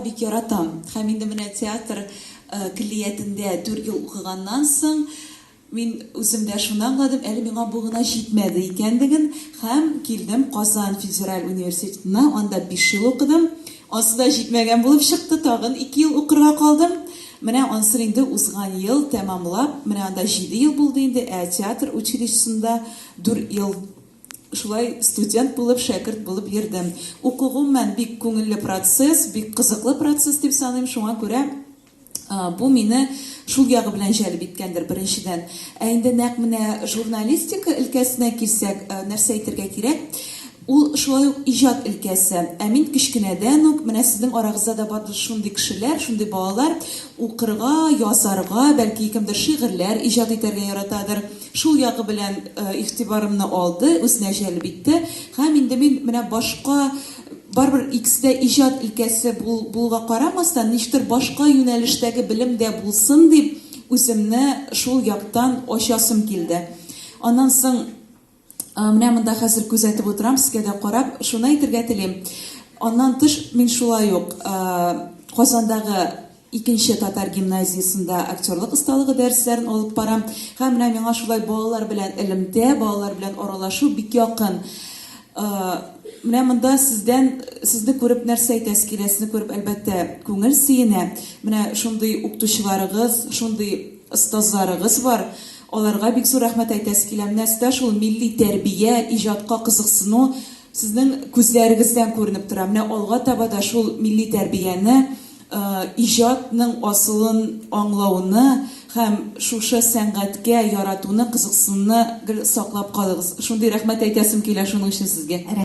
Бик яратам. Һәм инде менә театр көллиятендә дүрт ел укыганнан соң, мин үзем дә шуны аңладым, әле миңа бу гына җитмәде икәнлеген, һәм килдем Казан федераль университетына, анда биш ел укыдым. Ансы да җитмәгән булып чыкты, тагын ике ел укырга калдым. Менә ансын инде узган ел тәмамлап, менә анда җиде ел булды инде, ә театр училищесында дүрт ел. Шулай студент булып, шәкерт булып йөрдем. Уку гомумән бик күңелле процесс, бик кызыклы процесс дип саныйм, шуңа күрә бу мине шул ягы белән җәлеп иткәндер, беренчедән. Ә инде нәкъ менә журналистика өлкәсенә килсәк, нәрсә әйтергә кирәк, ул шулай ук иҗат өлкәсе. Ә мин кечкенәдән үк, менә сезнең арагызда да бардыр шундый кешеләр, шундый балалар, укырга, язарга, бәлки кемдер шигырьләр иҗат итәргә яратадыр, Шул ягы белән игътибарымны алды, үзенә җәлеп итте. Һәм инде мин менә башка, барыбер икесе дә иҗат өлкәсе булуга карамастан, ничектер башка юнәлештәге белем дә булсын дип, үземне шул яктан ачасым килде. Аннан соң, менә монда хәзер күзәтеп утырам, сезгә дә карап, шуны әйтергә телим, аннан тыш, мин шулай ук Казандагы Икенче татар гимназиясендә актерлык осталыгы дәресләрен алып барам. Һәм менә миңа шулай балалар белән элемтә, балалар белән аралашу бик якын. Менә монда сездән, сезне күреп нәрсә әйтәсе килә, сезне күреп, әлбәттә, күңел сөенә. Менә шундый укытучыларыгыз, шундый остазларыгыз бар. Аларга бик зур рәхмәт әйтәсе килә. Менә сездә шул милли тәрбия, иҗатка кызыксыну сезнең күзләрегездән күренеп тора. Менә алга таба да шул милли тәрбияне иҗатның асылын аңлауны һәм шушы сәнгатькә яратуны, кызыксынуны гел саклап калыгыз. Шундый рәхмәт әйтәсем килә шуның өчен сезгә.